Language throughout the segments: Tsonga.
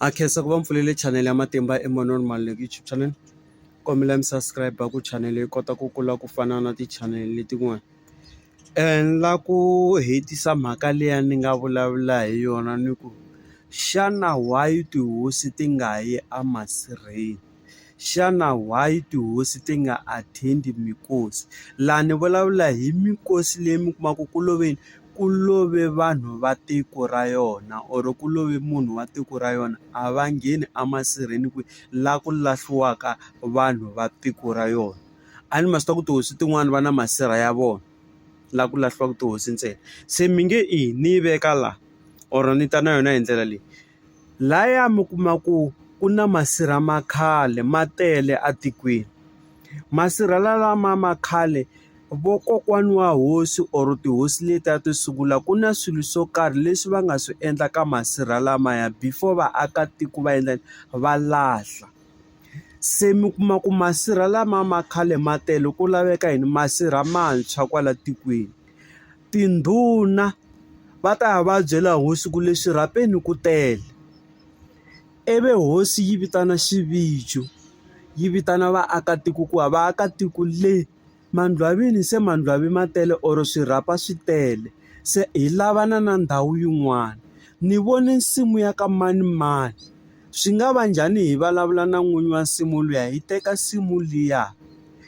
Ha khensa ku va mi pfulele chanele ya Matimba Emmanuel Maluleke YouTube channel. Kombela mi subscribe ku chanele yi kota ku kula ku fana na tichanele letin'wana. Ni lava ku hetisa mhaka liya ni nga vulavula hi yona ni ku, xana why tihosi ti nga yi emasirheni? xana why tihosi ti nga attend minkosi laha ni vulavula hi minkosi leyi mi kumaka ku loveni ku love vanhu va tiko ra yona or ku love munhu wa tiko ra yona a va ngheni a masirheni ku la ku lahliwaka vanhu va tiko ra yona a ni ma swi tiva ku tihosi tin'wani va na masirha ya vona la ku lahliwaku tihosi ntsena se mi nge i ni yi veka la or ni ta na yona hi ndlela leyi. Laya mi kuma ku ku na masirha ma khale ma tele etikweni masirha lama ma khale vokokwani wa hosi or tihosi letiya to sungula ku na swilo swo karhi leswi va nga swi endla ka masirha lamaya before vaakatiko va endla va lahla se mi kuma ku masirha lama ma khale ma tele ku laveka yini masirha mantshwa kwala tikweni Tindhuna va ta ya va ya byela hosi ku le xirhapeni ku tele. Ivi hosi yi vitana xivijo, yi vitana vaakatiko ku va vaakatiko le mandlwavini se mandlwavi ma tele or swirhapa swi tele, se hi lavana na ndhawu yin'wana. Ni vone nsimu ya ka manimani, swi nga va njhani hi vulavula na n'winyi wa nsimu liya hi teka nsimu liya?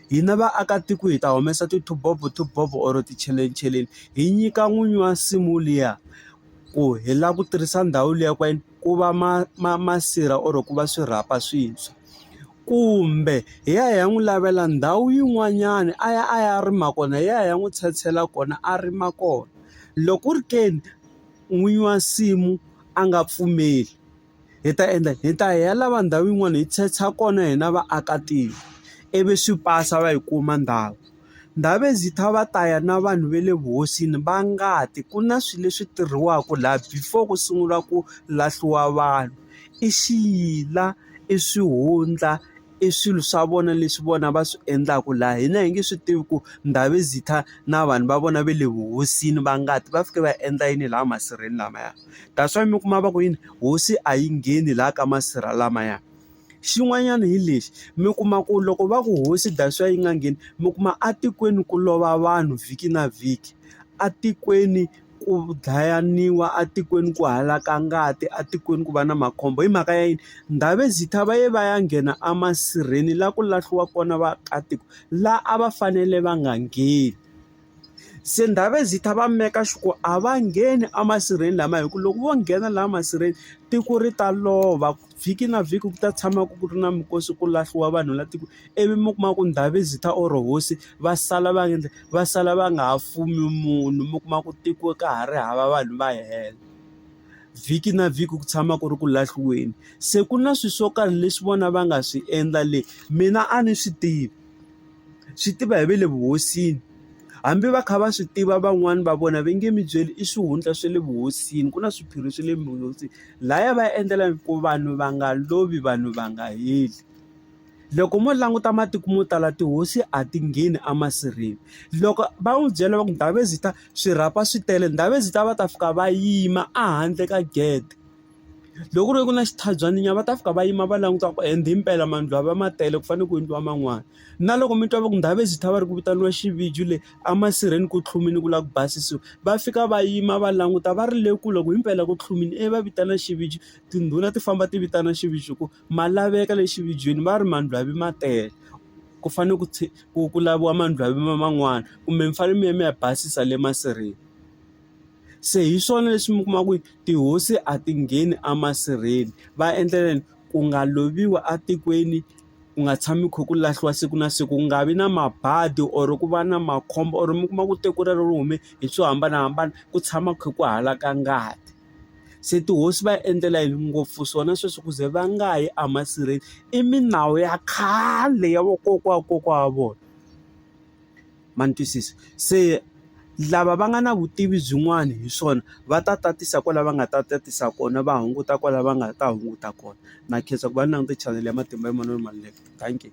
Hina vaakatiko hi ta humesa ti-two-bob-o two-bob-o or ticheleni hi nyika n'winyi wa nsimu liya ku hi lava ku tirhisa ndhawu liya ka yini ku va ma ma masirha or ku va swirhapa swintshwa kumbe hi ya hi ya n'wi lavela ndhawu yin'wanyana a ya a ya rima kona hi ya hi ya n'wi tshetshela kona a rima kona loko ku ri ke ni n'winyi wa nsimu a nga pfumeli. hi ta endla hi ta ya lava ndhawu yin'wana hi secha kona hina vaakatiko ivi swi pasa va yi kuma ndhawu Ndabezitha va ta ya na vanhu va le vuhosini va ngati ku na swilo leswi tirhiwaka laha before ku sungula ku lahliwa vanhu i xiyila i swihundla. i swilo swa vona leswi vona va swi endlaka laha hina hi nge swi tivi ku Ndabezitha na vanhu va vona va le vuhosini va ngati va fike va endla yini laha masirheni lamaya that's why mi kuma va ku yini hosi a yi ngheni laha ka masirha lamaya xin'wanyana hi lexi mi kuma ku loko va ku hosi that's why yi nga ngheni mi kuma a tikweni ku lova vanhu vhiki na vhiki a tikweni ku dlayiwa etikweni ku halaka ngati etikweni ku va na makhombo hi mhaka ya yini? Ndhavezitha va ye va ya nghena emasirheni laha ku lahliwa kona vaakatiko, laha a va fanele va nga ngheni. Se Ndhavezitha va make sure ku a va ngheni emasirheni lamaya hikuva loko vo nghena laha masirheni, tiko ri ta lova. Vhiki na vhiki ku ta tshama ku ri na minkosi ku lahliwa vanhu laha tikweni, ivi mi kuma ku ndhawu yi ta or hosi va sala va endle va sala va nga ha fumi munhu. Mi kuma ku tiko ka ha ri hava vanhu va hela. Vhiki na vhiki ku tshama ku ri ku lahliweni. Se ku na swilo swo karhi leswi vona va nga swi endla le, mina a ni swi tivi. swi tiva hi va le vuhosini hambi va kha va swi tiva van'wani va vona va nge mi byeli i swihundla swa le vuhosini ku na swiphiri swa le vuhosini laya va ya endlela ku vanhu va nga lovi vanhu va nga heli loko mo languta matiko mo tala tihosi a ti ngheni emasirheni loko va n'wi byela va ku Ndhavezitha swirhapa swi tele Ndhavezitha va ta fika va yima ehandle ka gede. Loko ku ri ku na xitshabyani nyana va ta fika va yima va languta ku and impela mani lava ma tele ku fanele ku endliwa man'wani. Na loko mi twa va ku ndhawu exit a va ri ku vitaniwa xivijo le a masirheni ku tlhumile ku lava ku basisiwa, va fika va yima va languta va ri le kule ku himpela ku tlhumile ivi va vitana xivijo. Tindhuna ti famba ti vitana xivijo ku ma laveka le xivijon va ri mandlhozi ma tele ku fanele ku ku ku laviwa mandlhozi man'wani kumbe mi fanele mi ya mi ya basisa le masirheni. Se hi swona leswi mi kuma ku tihosi a ti ngheni emasirheni. Va endlela yini? Ku nga loviwi etikweni, ku nga tshami ku kha ku lahliwa siku na siku, ku nga vi na mabadi or ku va na makhombo or mi kuma ku tiko rero ri hume hi swo hambanahambana, ku tshama ku kha ku halaka ngati. Se tihosi va endlela yini? Ngopfu swona sweswo ku ze va nga yi emasirheni. I milawu ya khale ya vakokwana wa kokwana wa vona. ma ni twisisa. Se lava va nga na vutivi byin'wana hi swona va ta tatisa kwalano va nga ta tatisa kona va hunguta kwalano va nga ta hunguta kona. Na khensa ku va ni languta chanele ya Matimba ya Manana Maluleke. Dankie.